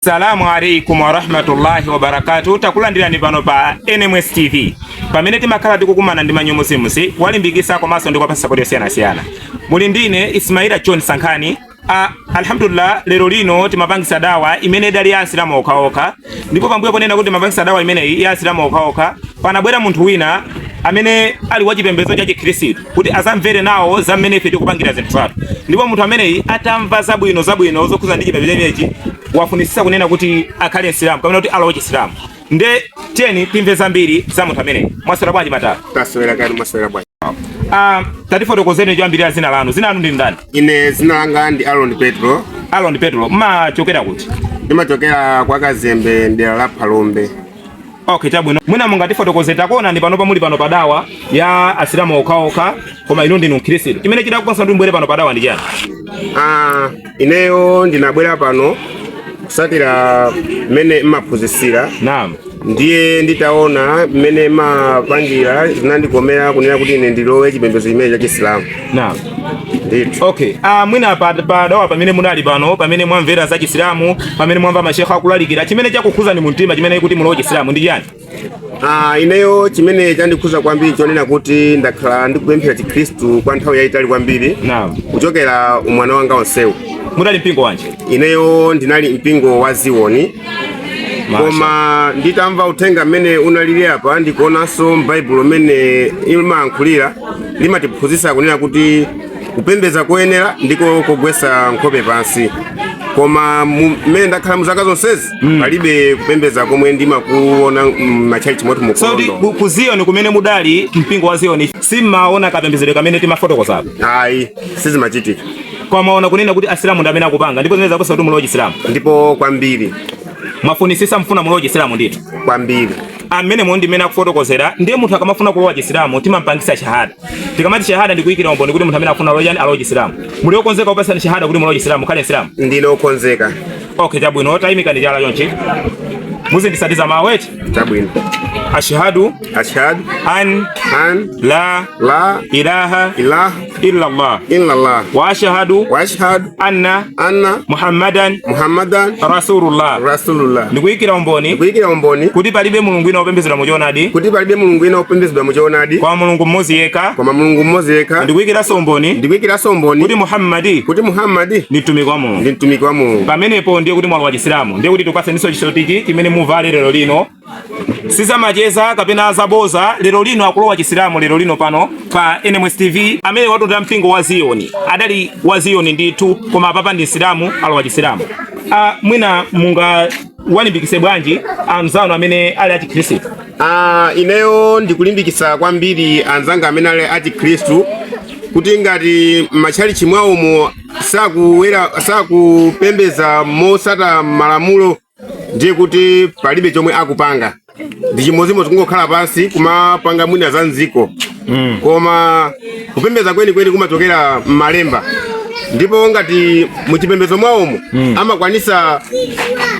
Salamu alaikum warahmatullahi wabarakatuh. Takulandirani pano pa NMS TV pamene timakhala tikukumana ndi manyomuzimuzi kuwalimbikisa komanso ndi kuwapasa sapoti yosiyanasiyana. Muli ndine Ismaila John Sankhani Ah, alhamdulillah lero lino timapangisa dawa imene idali ya asilamu okhaokha ndipo pambuyo ponena kuti timapangisa dawa imeneyi ya asilamu okhaokha panabwera munthu wina amene ali wa chipembedzo cha chikhristu kuti azamvere nawo za mmene ife tikupangira zinthu zathu ndipo munthu ameneyi atamva zabwino zabwino zokhuza ndi chipembedzo chimenechi wafunisisa kunena kuti akhale msilamu kapena kuti alowe chisilamu Nde tiyeni timve zambiri za munthu ameneyi. Mwaswera bwanji madala? Taswera kaya mwaswera bwanji. Ah, tatifotokozeni choyambirira zina lanu. Zina lanu ndi ndani? Ine zina langa ndi Aaron Petro. Aaron Petro, mmachokera kuti? Ndimachokera kwa Kazembe mdera la Phalombe. Okay, chabwino. Mwina mungatifotokoze takuonani pano pamuli pano padawa ya asilamu okhaokha koma inu ndinu Mkhristu. Chimene chidakukopani mubwere pano padawa ndi chani? Ah, ineyo ndinabwera pano kusatira mmene mmaphunzitsira Naam. ndiye nditaona mmene mmapangira zinandikomera kunena kuti ine ndilowe chipembedzo chimene cha chisilamu Naam. ndithu Okay. Ah, mwina pa pa dawa pamene munali pano, pamene mwamvera za Chisilamu, pamene mwamva mashekha akulalikira, chimene chakukhuzani mumtima chonena kuti mulowe Chisilamu ndi chani? Ah, ineyo chimene chandikhuza kwambiri chonena kuti ndakhala ndikupemphera chikhristu kwa nthawi yayitali kwambiri Naam. kuchokera umwana wanga onsewu Munali mpingo wanji? ineyo ndinali mpingo wa Zioni Masha. koma nditamva uthenga mmene unalili apa ndikuonanso m'baibulo mmene limayankhulira limatiphunzitsa kunena kuti kupembedza koyenera ndiko kogwetsa nkhope pansi koma mu- mmene ndakhala mu zaka zonsezi Mm. palibe kupembedza komwe ndimakuona m'matchalitchi mwathu mu so ndi Kondo. ku- ku Zioni kumene mudali mpingo wa Zioni simmaona kapembedzedwe kamene timafotokozapo ayi sizimachitika kwamaona kunena kuti asilamu ndi amene akupanga ndipo zinaweza kusa kuti mulowe chisilamu ndipo kwambiri mwafunisisa mufuna mulowe chisilamu ndithu kwambiri amene mundi mene akufotokozera ndiye munthu akamafuna kulowa chisilamu timampangisa shahada tikamati shahada ndikuyikira umboni kuti munthu amene akufuna loyani alowa chisilamu muli okonzeka kupasani shahada kuti mulowe chisilamu mukhale msilamu ndine okonzeka Okay, chabwino taimikani chala chonchi muzindisatira mawu eti chabwino ashhadu ashhadu an an la la ilaha ilaha illa allah illa allah wa ashhadu wa ashhadu anna anna muhammadan muhammadan rasulullah rasulullah ndikuyikira umboni ndikuyikira umboni kuti palibe mulungu wina wopembedzedwa mu choonadi kuti palibe mulungu wina wopembedzedwa mu choonadi kwa mulungu mmodzi yekha kwa mulungu mmodzi yekha ndikuyikiranso umboni ndikuyikiranso umboni kuti muhammadi kuti muhammadi ndi mtumiki wa ndi mtumiki wa Mulungu. Pamenepo ndiye kuti mwalowa Chisilamu, ndiye kuti tikupatseniso chisotichi chimene muvale lero lino si zamacheza kapena zaboza. Lero lino akulowa Chisilamu lero lino pano pa NMS TV, amene watenda mpingo wa Ziyoni adali wa Ziyoni ndithu, koma apapa ndi Msilamu alowa Chisilamu. Ah, mwina mungawalimbikitse bwanji anzanu amene ali achikhristu? Ah, ineyo ndikulimbikitsa kwambiri anzanga amene ali achikhristu kuti ngati m'matchalichi mwawomo sakuwera sakupembedza motsata malamulo ndiye kuti palibe chomwe akupanga ndi chimodzimodzi kungokhala pansi kumapanga mwina za m'dziko mm. koma kupembedza kwenikweni kumachokera m'malemba ndipo ngati muchipembedzo mwawomo mm. amakwanitsa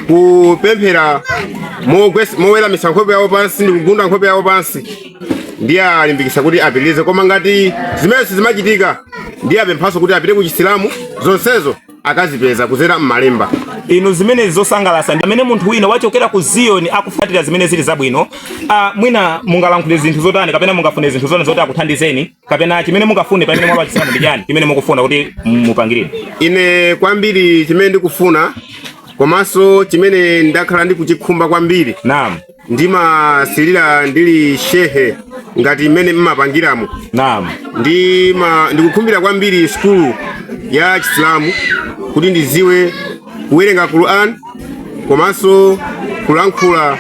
kupemphera moweramitsa nkhope yawo pansi ndi kugunda nkhope yawo pansi ndiwalimbikitsa kuti apitirize koma ngati zimenezi sizimachitika ndiwapemphanso kuti apite ku chisilamu zonsezo akazipeza kudzera m'malemba inu zimenezi zosangalatsa ndi amene munthu wina wachokera ku ziyoni akutsatira zimene zili zabwino uh, mwina mungalankhule zinthu zotani kapena mungafune zinthu zotani zoti akuthandizeni kapena chimene mungafune pamene mwalowa chisilamu ndi chani chimene mukufuna kuti mupangirire ine kwambiri chimene ndikufuna komanso chimene ndakhala ndikuchikhumba kwambiri naam ndimasilira ndili shekhe ngati mmene mmapangiramo Naam. ndima ndikukhumbira kwambiri sukulu ya chisilamu kuti ndidziwe kuwerenga quran komanso kulankhula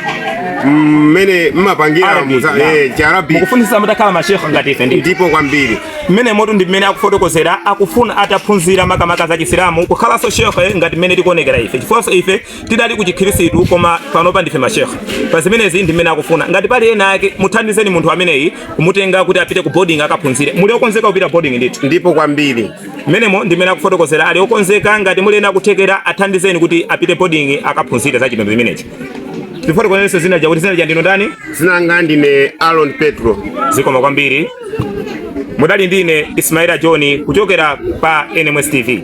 mmene mmapangira Arabic, muza- naam. eh, chiarabi Mukufunitsa mutakhala mashekhe ngati ife ndi. ndipo kwambiri Mmenemotu ndi mmene akufotokozera akufuna ataphunzira makamaka za Chisilamu kukhalanso shekhe ngati mmene tikuonekera ife. Chifukwa ife tidali ku chikhirisitu koma panopa ndife mashekha pa zimenezi ndi mmene akufuna ngati pali ena ake muthandizeni munthu ameneyi kumutenga kuti apite ku boarding akaphunzire muli okonzeka kupita boarding ndithu ndipo kwambiri mmenemo ndi mmene akufotokozera ali okonzeka ngati muli ena a kuthekera athandizeni kuti apite boarding akaphunzire za chipembedzo chimenechi tifotokozereninso dzina lija kuti dzina lija ndinu ndani dzina langa ndine aron petro zikomo kwambiri mudali ndi ine Ismaila John kuchokera pa NMS TV.